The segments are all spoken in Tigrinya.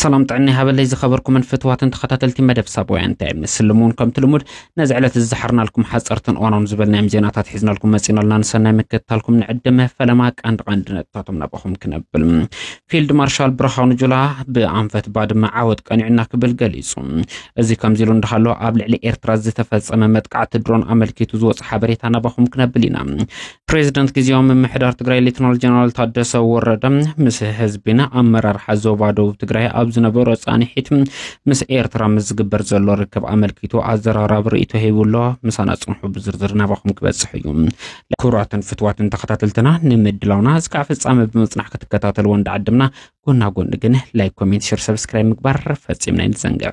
ሰላም ጥዕና ይሃበለይ ዝኸበርኩምን ፍትዋትን ተኸታተልቲ መደብ ሳብውያን እንታይ ምስልም እውን ከምቲ ልሙድ ነዚ ዕለት ዝዝሓርናልኩም ሓፀርትን እዋናውን ዝበልናዮም ዜናታት ሒዝናልኩም መፂናልና ንሰናይ ምክትታልኩም ንዕድመ ፈለማ ቀንዲ ቀንዲ ነጥታቶም ናባኹም ክነብል ፊልድ ማርሻል ብርሃኑ ጁላ ብኣንፈት ባድመ ዓወት ቀኒዑና ክብል ገሊፁ እዚ ከምዚ ኢሉ እንዳሃሎ ኣብ ልዕሊ ኤርትራ ዝተፈፀመ መጥቃዕቲ ድሮን ኣመልኪቱ ዝወፅ ሓበሬታ ናባኹም ክነብል ኢና ፕሬዚደንት ግዜያዊ ምምሕዳር ትግራይ ሌትናል ጀነራል ታደሰ ወረደ ምስ ህዝቢን ኣመራርሓ ዞባ ደቡብ ትግራይ ኣብ ዝነበሮ ፃንሒት ምስ ኤርትራ ምስ ዝግበር ዘሎ ርክብ ኣመልኪቱ ኣዘራራቢ ርእይቶ ሂቡ ኣሎ። ምሳና ፅንሑ ብዝርዝር ናባኹም ክበፅሕ እዩ። ክቡራትን ፍትዋትን ተኸታተልትና ንምድላውና እስካዕ ፍፃመ ብምፅናሕ ክትከታተልዎ እንዳዓደምና ጎና ጎኒ ግን ላይክ፣ ኮሜንት፣ ሸር፣ ሰብስክራይብ ምግባር ፈፂምና ይንዘንግዕ።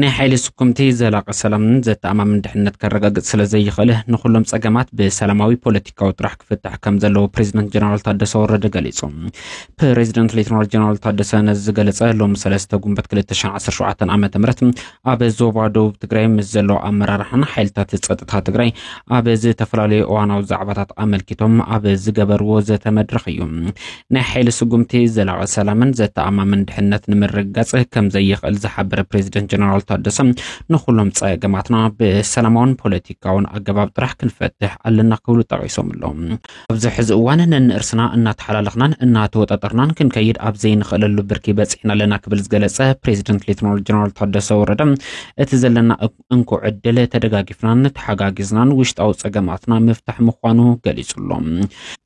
ናይ ሓይሊ ስኩምቲ ዘላቂ ሰላምን ዘተኣማምን ድሕነት ከረጋግፅ ስለ ዘይኽእል ንኩሎም ፀገማት ብሰላማዊ ፖለቲካዊ ጥራሕ ክፍታሕ ከም ዘለዎ ፕሬዚደንት ጀነራል ታደሰ ወረደ ገሊፁ። ፕሬዚደንት ሌተናል ጀነራል ታደሰ ነዚ ዝገለፀ ሎሚ ሰለስተ ጉንበት 2017 ዓ ም ኣብ ዞባ ደቡብ ትግራይ ምስ ዘለዉ ኣመራርሓን ሓይልታት ፀጥታ ትግራይ ኣብ ዝተፈላለዩ እዋናዊ ዛዕባታት ኣመልኪቶም ኣብ ዝገበርዎ ዘተ መድረኽ እዩ። ናይ ሓይሊ ስጉምቲ ዘላቒ ሰላምን ዘተኣማምን ድሕነት ንምርግጋፅ ከም ዘይኽእል ዝሓበረ ፕሬዚደንት ጀነራል ታደሰ ንኩሎም ፀገማትና ብሰላማውን ፖለቲካውን ኣገባብ ጥራሕ ክንፈትሕ ኣለና ክብሉ ጠቂሶም ኣለዉ። ኣብዚ ሕዚ እዋን ነንእርስና እናተሓላለኽናን እናተወጣጠርናን ክንከይድ ኣብ ዘይንኽእለሉ ብርኪ በፂሕና ኣለና ክብል ዝገለፀ ፕሬዚደንት ሌተናል ጀነራል ታደሰ ወረደ እቲ ዘለና እንኮ ዕድል ተደጋጊፍናን ተሓጋጊዝናን ውሽጣዊ ጸገማትና ምፍታሕ ምዃኑ ገሊጹ ኣሎ።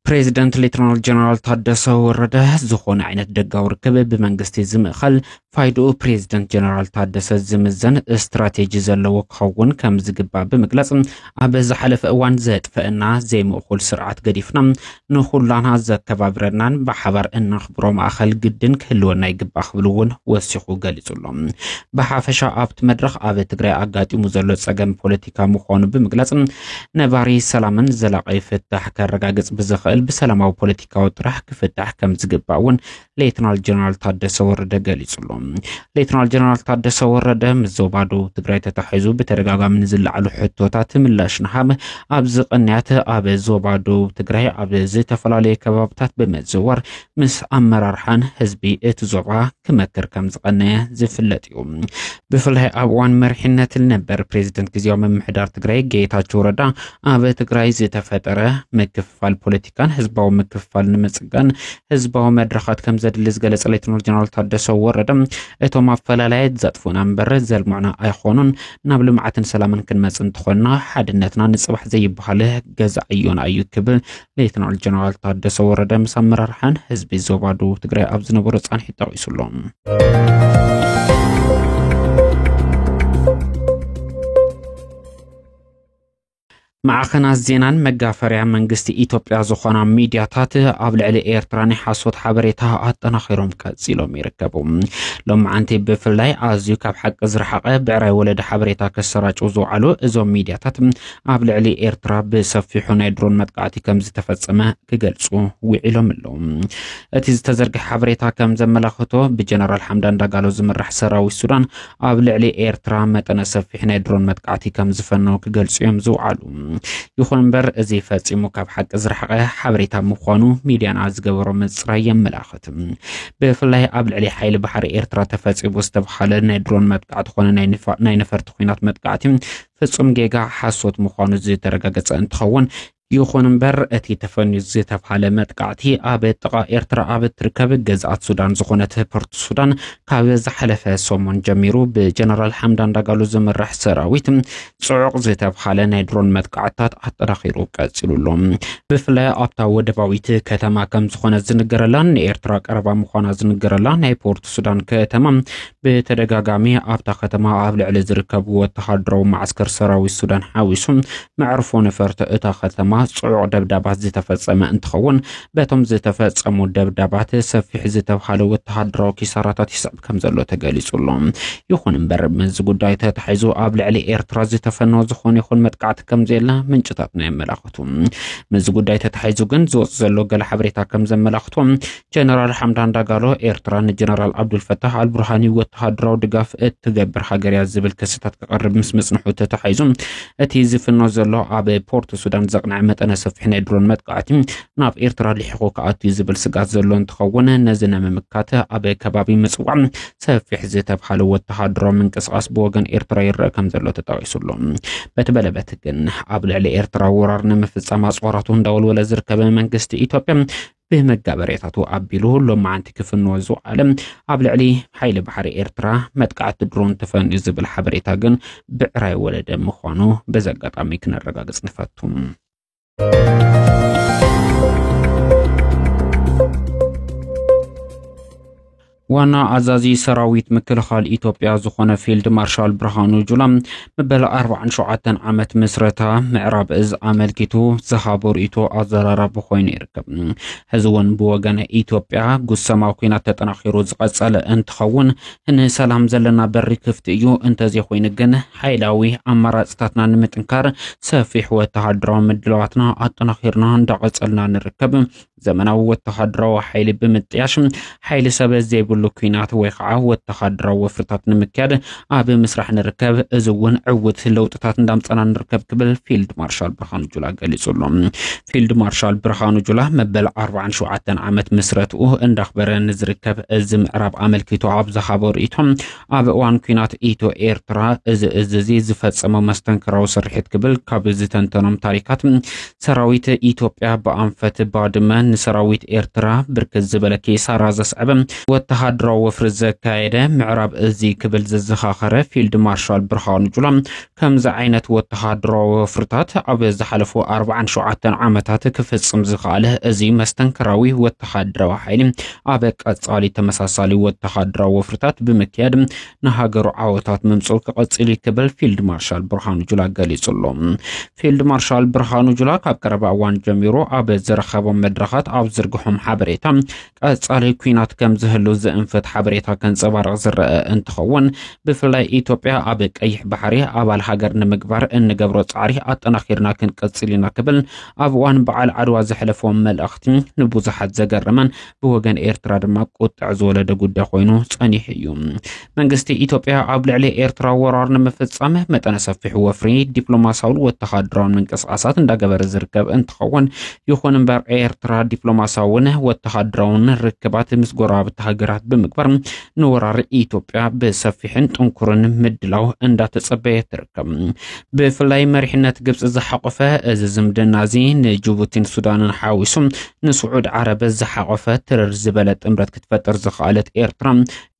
ፕሬዚደንት ሌተናል ጀነራል ታደሰ ወረደ ዝኾነ ዓይነት ደጋዊ ርክብ ብመንግስቲ ዝምእኸል ፋይድኡ ፕሬዚደንት ጀነራል ታደሰ ዝምዘን ስትራቴጂ ዘለዎ ክኸውን ከም ዝግባእ ብምግላጽ ኣብ ዝሓለፈ እዋን ዘጥፈእና ዘይምእኩል ስርዓት ገዲፍና ንኹላና ዘከባብረናን ብሓባር እነኽብሮ ማእኸል ግድን ክህልወና ይግባእ ክብል እውን ወሲኹ ገሊፁ ኣሎ። ብሓፈሻ ኣብቲ መድረኽ ኣብ ትግራይ ኣጋጢሙ ዘሎ ፀገም ፖለቲካ ምዃኑ ብምግላፅ ነባሪ ሰላምን ዘላቒ ፍታሕ ከረጋግፅ ብዝኽእል ብሰላማዊ ፖለቲካዊ ጥራሕ ክፍታሕ ከምዝግባእ እውን ሌትናል ጀነራል ታደሰ ወረደ ገሊጹ ኣሎ። ሌትናል ጀነራል ታደሰ ወረደ ምስ ዞባ ደቡብ ትግራይ ተታሒዙ ብተደጋጋሚ ንዝለዓሉ ሕቶታት ምላሽ ንሃብ ኣብዚ ቅንያት ኣብ ዞባ ደቡብ ትግራይ ኣብ ዝተፈላለዩ ከባብታት ብምዝዋር ምስ ኣመራርሓን ህዝቢ እቲ ዞባ ክመክር ከም ዝቐነየ ዝፍለጥ እዩ። ብፍላይ ኣብ እዋን መሪሕነት ነበር ፕሬዚደንት ግዜያዊ ምምሕዳር ትግራይ ጌታቸው ረዳ ኣብ ትግራይ ዝተፈጠረ ምክፍፋል ፖለቲካ ምትካን ህዝባዊ ምክፍፋል ንምፅጋን ህዝባዊ መድረኻት ከም ዘድሊ ዝገለፀ ሌተናል ጀነራል ታደሰ ወረደ እቶም ኣፈላላያት ዘጥፉና እምበር ዘልምዑና ኣይኾኑን ናብ ልምዓትን ሰላምን ክንመፅ እንተኾንና ሓድነትና ንፅባሕ ዘይበሃል ገዛ ዕዮና እዩ ክብል ሌተናል ጀነራል ታደሰ ወረደ ምስ ኣመራርሓን ህዝቢ ዞባ ደቡብ ትግራይ ኣብ ዝነበሮ ፃንሒት ጠቂሱ ኣሎ። ማዕኸናት ዜናን መጋፈርያ መንግስቲ ኢትዮጵያ ዝኾና ሚድያታት ኣብ ልዕሊ ኤርትራ ናይ ሓሶት ሓበሬታ ኣጠናኺሮም ቀፂሎም ይርከቡ። ሎማዓንቲ ብፍላይ ኣዝዩ ካብ ሓቂ ዝረሓቐ ብዕራይ ወለደ ሓበሬታ ከሰራጭው ዝውዓሉ እዞም ሚድያታት ኣብ ልዕሊ ኤርትራ ብሰፊሑ ናይ ድሮን መጥቃዕቲ ከም ዝተፈጸመ ክገልጹ ውዒሎም ኣለዉ። እቲ ዝተዘርግሐ ሓበሬታ ከም ዘመላኽቶ ብጀነራል ሓምዳን ዳጋሎ ዝምራሕ ሰራዊት ሱዳን ኣብ ልዕሊ ኤርትራ መጠነ ሰፊሕ ናይ ድሮን መጥቃዕቲ ከም ዝፈነው ክገልጹ እዮም ዝውዓሉ። ይኹን እምበር እዚ ፈጺሙ ካብ ሓቂ ዝረሓቐ ሓበሬታ ምዃኑ ሚድያና ዝገበሮ ምጽራይ የመላኽት። ብፍላይ ኣብ ልዕሊ ሓይሊ ባሕሪ ኤርትራ ተፈጺሙ ዝተብሃለ ናይ ድሮን መጥቃዕቲ ኮነ ናይ ነፈርቲ ኩናት መጥቃዕቲ ፍጹም ጌጋ ሓሶት ምዃኑ ዝተረጋገጸ እንትኸውን ይኹን እምበር እቲ ተፈንዩ ዝተብሃለ መጥቃዕቲ ኣብ ጥቓ ኤርትራ ኣብ እትርከብ ገዝኣት ሱዳን ዝኾነት ፖርት ሱዳን ካብ ዝሓለፈ ሰሙን ጀሚሩ ብጀነራል ሓምዳን ዳጋሉ ዝምራሕ ሰራዊት ጽዑቕ ዝተብሃለ ናይ ድሮን መጥቃዕትታት ኣጠናኺሩ ቀጺሉ ኣሎ። ብፍላይ ኣብታ ወደባዊት ከተማ ከም ዝኾነት ዝንገረላን ንኤርትራ ቀረባ ምዃና ዝንገረላ ናይ ፖርት ሱዳን ከተማ ብተደጋጋሚ ኣብታ ከተማ ኣብ ልዕሊ ዝርከብ ወተሃደራዊ ማዕስከር ሰራዊት ሱዳን ሓዊሱ መዕርፎ ነፈርቲ እታ ከተማ ጽዑቕ ደብዳባት ዝተፈጸመ እንትኸውን በቶም ዝተፈጸሙ ደብዳባት ሰፊሕ ዝተብሃለ ወተሃደራዊ ኪሳራታት ይስዕብ ከም ዘሎ ተገሊጹ ኣሎ። ይኹን እምበር ምስዚ ጉዳይ ተታሒዙ ኣብ ልዕሊ ኤርትራ ዝተፈነወ ዝኾነ ይኹን መጥቃዕቲ ከም ዘየለ ምንጭታትና የመላኽቱ። ምስዚ ጉዳይ ተታሒዙ ግን ዝወጽእ ዘሎ ገለ ሓበሬታ ከም ዘመላኽቶ ጀነራል ሓምዳን ዳጋሎ ኤርትራ ንጀነራል ዓብዱልፈታሕ ኣልቡርሃኒ ወተሃደራዊ ድጋፍ እትገብር ሃገር እያ ዝብል ክስታት ክቐርብ ምስ ምጽንሑ ተታሒዙ እቲ ዝፍኖ ዘሎ ኣብ ፖርት ሱዳን ዘቕንዐ መጠነ ሰፊሕ ናይ ድሮን መጥቃዕቲ ናብ ኤርትራ ልሒኹ ክኣትዩ ዝብል ስጋት ዘሎ እንትኸውን ነዚ ንምምካት ኣብ ከባቢ ምጽዋዕ ሰፊሕ ዝተብሃለ ወተሃደራዊ ምንቅስቓስ ብወገን ኤርትራ ይረአ ከም ዘሎ ተጠቒሱሉ በቲ በለበት ግን ኣብ ልዕሊ ኤርትራ ወራር ንምፍጻም ኣጽዋራቱ እንዳወልወለ ዝርከበ መንግስቲ ኢትዮጵያ ብመጋበርያታቱ ኣቢሉ ሎማዓንቲ ክፍንዎ ዝውዓለ ኣብ ልዕሊ ሓይሊ ባሕሪ ኤርትራ መጥቃዕቲ ድሮን ተፈንዩ ዝብል ሓበሬታ ግን ብዕራይ ወለደ ምዃኑ በዚ ኣጋጣሚ ክነረጋግጽ ንፈቱ። ዋና ኣዛዚ ሰራዊት ምክልኻል ኢትዮጵያ ዝኾነ ፊልድ ማርሻል ብርሃኑ ጁላ መበል 47 ዓመት ምስረታ ምዕራብ እዝ ኣመልኪቱ ዝሃቦ ርእይቶ ኣዘራራቢ ኮይኑ ይርከብ። ሕዚ እውን ብወገነ ኢትዮጵያ ጉሰማ ኩናት ተጠናኺሩ ዝቐጸለ እንትኸውን ንሰላም ዘለና በሪ ክፍቲ እዩ። እንተዘይኮይኑ ግን ሓይላዊ ኣማራፅታትና ንምጥንካር ሰፊሕ ወተሃደራዊ ምድላዋትና ኣጠናኺርና እንዳቐጸልና ንርከብ። ዘመናዊ ወተሃደራዊ ሓይሊ ብምጥያሽ ሓይሊ ሰብ ዘይብሉ ኩናት ወይ ከዓ ወተሃደራዊ ወፍርታት ንምክያድ ኣብ ምስራሕ ንርከብ እዚ እውን ዕውት ለውጥታት እንዳምፀና ንርከብ ክብል ፊልድ ማርሻል ብርሃኑ ጁላ ገሊፁ ኣሎ ፊልድ ማርሻል ብርሃኑ ጁላ መበል 47 ዓመት ምስረትኡ እንዳኽበረ ንዝርከብ እዚ ምዕራብ ኣመልኪቶ ኣብ ዝሃቦ ርእይቶ ኣብ እዋን ኲናት ኢትዮ ኤርትራ እዚ እዚ እዚ ዝፈጸሞ መስተንክራዊ ስርሒት ክብል ካብ ዝተንተኖም ታሪካት ሰራዊት ኢትዮጵያ ብኣንፈት ባድመ ንሰራዊት ኤርትራ ብርክት ዝበለ ኪሳራ ዘስዐበ ወተሃደራዊ ወፍሪ ዘካየደ ምዕራብ እዚ ክብል ዘዘኻኸረ ፊልድ ማርሻል ብርሃኑ ጁላ ከምዚ ዓይነት ወተሃደራዊ ወፍርታት ኣብ ዝሓለፉ ኣርባዓን ሸውዓተን ዓመታት ክፍጽም ዝኸኣለ እዚ መስተንክራዊ ወተሃደራዊ ሓይሊ ኣብ ቀጻሊ ተመሳሳሊ ወተሃደራዊ ወፍርታት ብምክያድ ንሃገሩ ዓወታት ምምጽኡ ክቕጽል እዩ ክብል ፊልድ ማርሻል ብርሃኑ ጁላ ገሊጹ ኣሎ። ፊልድ ማርሻል ብርሃኑ ጁላ ካብ ቀረባ እዋን ጀሚሩ ኣብ ዝረኸቦም መድረኻት ኣብ ዝርግሖም ሓበሬታ ቀጻሊ ኩናት ከም ዝህሉ ዝእንፍት ሓበሬታ ከንጸባርቕ ዝረአ እንትኸውን ብፍላይ ኢትዮጵያ ኣብ ቀይሕ ባሕሪ ኣባል ሃገር ንምግባር እንገብሮ ጻዕሪ ኣጠናኺርና ክንቅጽል ኢና ክብል ኣብ እዋን በዓል ዓድዋ ዘሕለፎ መልእኽቲ ንብዙሓት ዘገረመን ብወገን ኤርትራ ድማ ቁጥዕ ዝወለደ ጉዳይ ኮይኑ ጸኒሑ እዩ። መንግስቲ ኢትዮጵያ ኣብ ልዕሊ ኤርትራ ወራር ንምፍጻም መጠነ ሰፊሕ ወፍሪ ዲፕሎማሲያውን ወተሃደራውን ምንቅስቓሳት እንዳገበረ ዝርከብ እንትኸውን ይኹን እምበር ኤርትራ ዲፕሎማሲያውን ወተሃደራውን ርክባት ምስ ጎረባብቲ ሃገራት ብምግባር ንወራር ኢትዮጵያ ብሰፊሕን ጥንኩርን ምድላው እንዳተጸበየ ትርከብ። ብፍላይ መሪሕነት ግብፂ ዝሓቆፈ እዚ ዝምድና እዚ ንጅቡቲን ሱዳንን ሓዊሱ ንስዑድ ዓረብ ዝሓቆፈ ትርር ዝበለ ጥምረት ክትፈጥር ዝኸኣለት ኤርትራ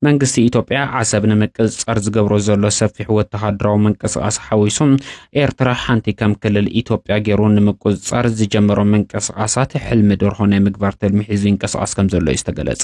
መንግስቲ ኢትዮጵያ ዓሰብ ንምቅጽጸር ዝገብሮ ዘሎ ሰፊሕ ወተሃደራዊ ምንቅስቓስ ሓዊሱ ኤርትራ ሓንቲ ከም ክልል ኢትዮጵያ ገይሩ ንምቁጽጻር ዝጀመሮ ምንቅስቓሳት ሕልሚ ደርሆ ናይ ምግባር ትልሚ ሒዙ ይንቀስቓስ ከም ዘሎ እዩ ዝተገለጸ።